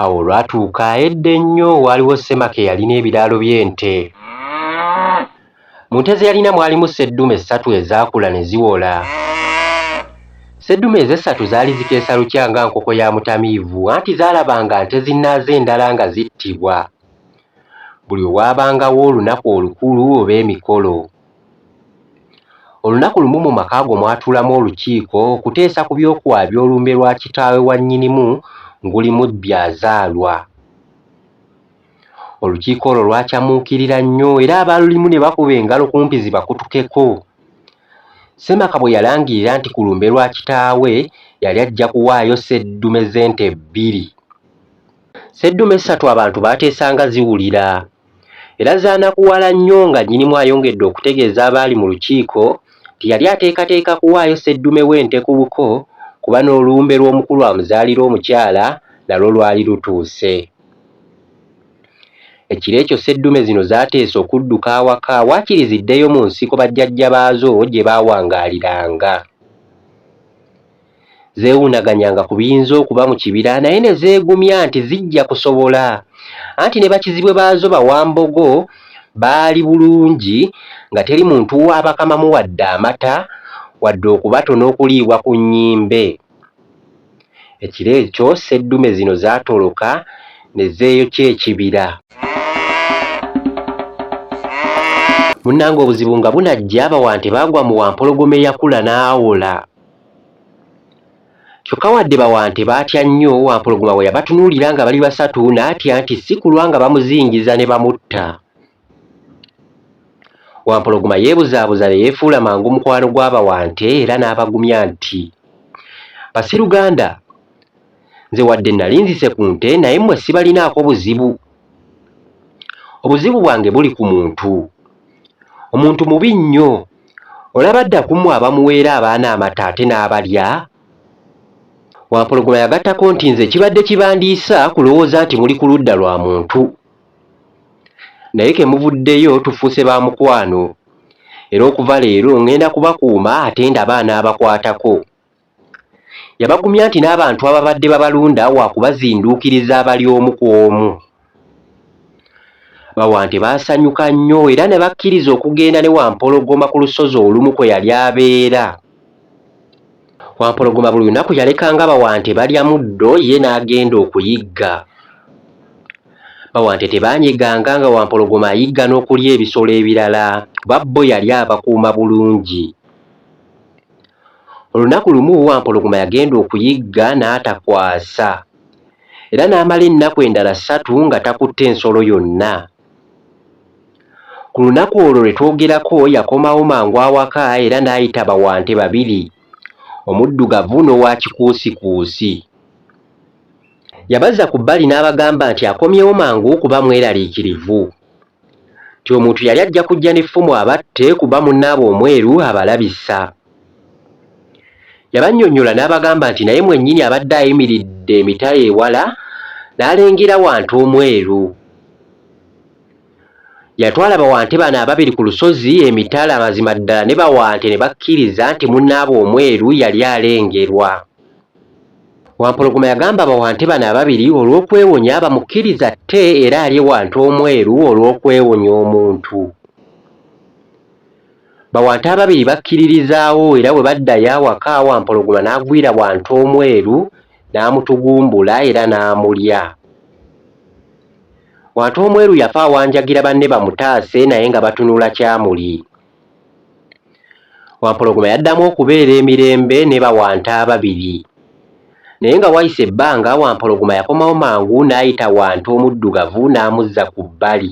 Awo olwatuuka edda ennyo waaliwo ssemaka eyalina ebiraalo by'ente. Mu nte ze yalina mwalimu sseddume ssatu ezaakula ne ziwola. Sseddume ezo essatu zaali zikeesa lukya nga nkoko ya mutamiivu anti zaalabanga nte zinnaazo endala nga zittibwa buli olwabangawo olunaku olukulu oba emikolo. Olunaku lumu mu maka go mwatuulamu olukiiko okuteesa ku by'okuwaabya olumbe lwa kitaawe wa Nnyinimu nguli mu Byazaalwa. Olukiiko olwo lwacamuukirira nnyo era abaalulimu ne bakuba engalo kumpi zibakutukeko. Ssemaka bwe yalangirira nti ku lumbe lwa kitaawe yali ajja kuwaayo sseddume z'ente bbiri. Sseddume ssatu abantu baateesa nga ziwulira era zaanakuwala nnyo nga Nnyinimu ayongedde okutegeeza abaali mu lukiiko nti yali ateekateeka kuwaayo sseddume w'ente ku buko kuba n'olumbe lw'omukulu amuzaalira omukyala nalwo lwali lutuuse. Ekiro ekyo sseddume zino zaateesa okudduka awaka waakiri ziddeyo mu nsiko bajjajja baazo gye baawangaaliranga. zeewuunaganyanga ku biyinza okuba mu kibira naye ne zeegumya nti zijja kusobola anti ne bakizibwe baazo Bawambogo baali bulungi nga teri muntu waabakamamu wadde amata wadde okubatona okuliibwa ku nnyimbe. Ekiro ekyo sseddume zino zaatoloka ne zeeyokya ekibira. Munnange obuzibu nga bunajja Abawante baagwa mu Wampologoma eyakula n'awola. Kyokka wadde Bawante baatya nnyo, Wampologoma bwe yabatunuulira nga bali basatu n'atya nti si kulwa nga bamuzingiza ne bamutta. Wampologoma yeebuzaabuza ne yeefuula mangu mukwano gwa Bawante era n'abagumya nti, Basiruganda, nze wadde nnali nzise ku nte naye mmwe sibalinaako buzibu obuzibu bwange buli ku muntu omuntu mubi nnyo olaba adda kumwe abamuweera abaana amata ate n'abalya wampologoma yagattako nti nze kibadde kibandiisa kulowooza nti muli ku ludda lwa muntu naye ke muvuddeyo tufuuse ba mukwano era okuva leero ngenda kubakuuma ate ndaba anaabakwatako Yabagumya nti n'abantu ababadde babalunda waakubazinduukiriza abali omu ku omu. Bawante baasanyuka nnyo era ne bakkiriza okugenda ne Wampologoma ku lusozi olumu kwe yali abeera. Wampologoma buli lunaku yalekanga Bawante balya muddo ye n'agenda okuyigga. Bawante tebaanyeganga nga Wampologoma ayigga n'okulya ebisolo ebirala kuba bo yali abakuuma bulungi. Olunaku lumu Wampologoma yagenda okuyigga n'atakwasa era n'amala ennaku endala ssatu nga takutte nsolo yonna. Ku lunaku olwo lwe twogerako yakomawo mangu awaka era n'ayita bawante babiri, omuddugavu n'owa kikuusikuusi. Yabazza ku bbali n'abagamba nti akomyewo mangu kuba mweraliikirivu. nti omuntu yali ajja kujja n'effumu abatte kuba munne aba omweru abalabisa. Yabannyonnyola n'abagamba nti naye mwennyini abadde ayimiridde emitala ewala n'alengera Wante omweru. Yatwala Bawante bano ababiri ku lusozi emitala mazima ddala ne Bawante ne bakkiriza nti munnaabwe omweru yali alengerwa. Wampologoma yagamba bawante bano ababiri olw'okwewonya bamukkirize atte era alye wante omweru olw'okwewonya omuntu. Bawante ababiri bakkiririzaawo era bwe baddayo awaka Wampologoma n'agwira wante omweru n'amutugumbula era n'amulya. Wante omweru yafa awanjagira banne bamutaase naye nga batunula kyamuli. Wampologoma yaddamu okubeera emirembe ne Bawanta ababiri. Naye nga wayise ebbanga Wampologoma yakomawo mangu n'ayita Wanta omuddugavu n'amuzza ku bbali.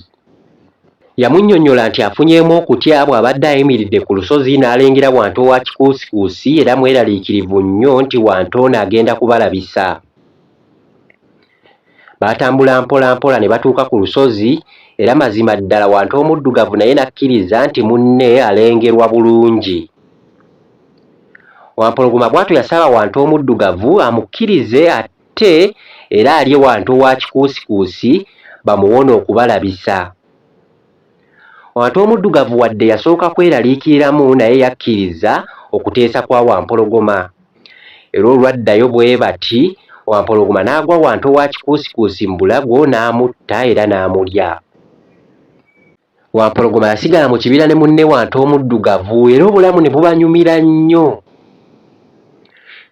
Yamunnyonnyola nti afunyeemu okutya bw'abadde ayimiridde ku lusozi n'alengera Wanta owa kikuusikuusi era mweraliikirivu nnyo nti Wanta ono agenda kubalabisa. Baatambula mpola mpola ne batuuka ku lusozi, era mazima ddala Wantu Omuddugavu naye n'akkiriza nti munne alengerwa bulungi. Wampologoma bw'atyo yasaba Wantu Omuddugavu amukkirize atte era alye Wantu owa kikuusikuusi bamuwone okubalabisa. Ate Omuddugavu wadde yasooka kweraliikiriramu naye yakkiriza okuteesa kwa Wampologoma era olwaddayo bwe bati Wampologoma n'agwa wanto wa Kikuusikuusi mu bulago n'amutta era n'amulya. Wampologoma yasigala mu kibira ne munne Wanto Omuddugavu era obulamu ne bubanyumira nnyo.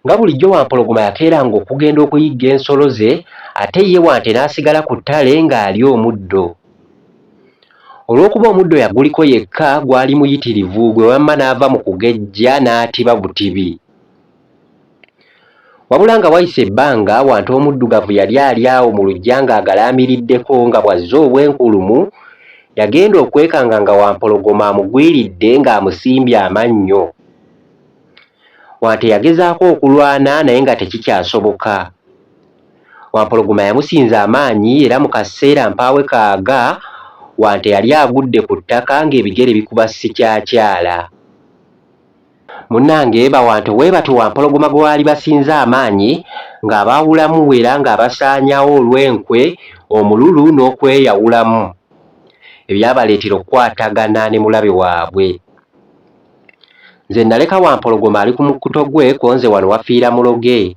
Nga bulijjo Wampologoma yakeeranga okugenda okuyigga ensolo ze ate ye Wante n'asigala ku ttale ng'alya omuddo. Olw'okuba omuddo yaguliko yekka gwali muyitirivu gwe wamma n'ava mu kugejja n'atiba butibi. Wabula nga wayise ebbanga, Wante omuddugavu yali ali awo mu luggya ng'agalaamiriddeko nga bw'azze obwenkulumu, yagenda okwekanga nga Wampologoma amugwiridde ng'amusimbye amannyo. Wante yagezaako okulwana naye nga tekikyasoboka. Wampologoma yamusinza amaanyi era mu kaseera mpaawe kaaga, Wante yali agudde ku ttaka ng'ebigere bikuba sikyakyaala. Munnange Bawante weebatyo Wampologoma gwe baali basinza amaanyi ng'abaawulamu era ng'abasaanyawo olw'enkwe, omululu n'okweyawulamu ebyabaleetera okukwatagana ne mulabe waabwe. Nze naleka Wampologoma ali ku mukkuto gwe ko nze wano wafiira muloge.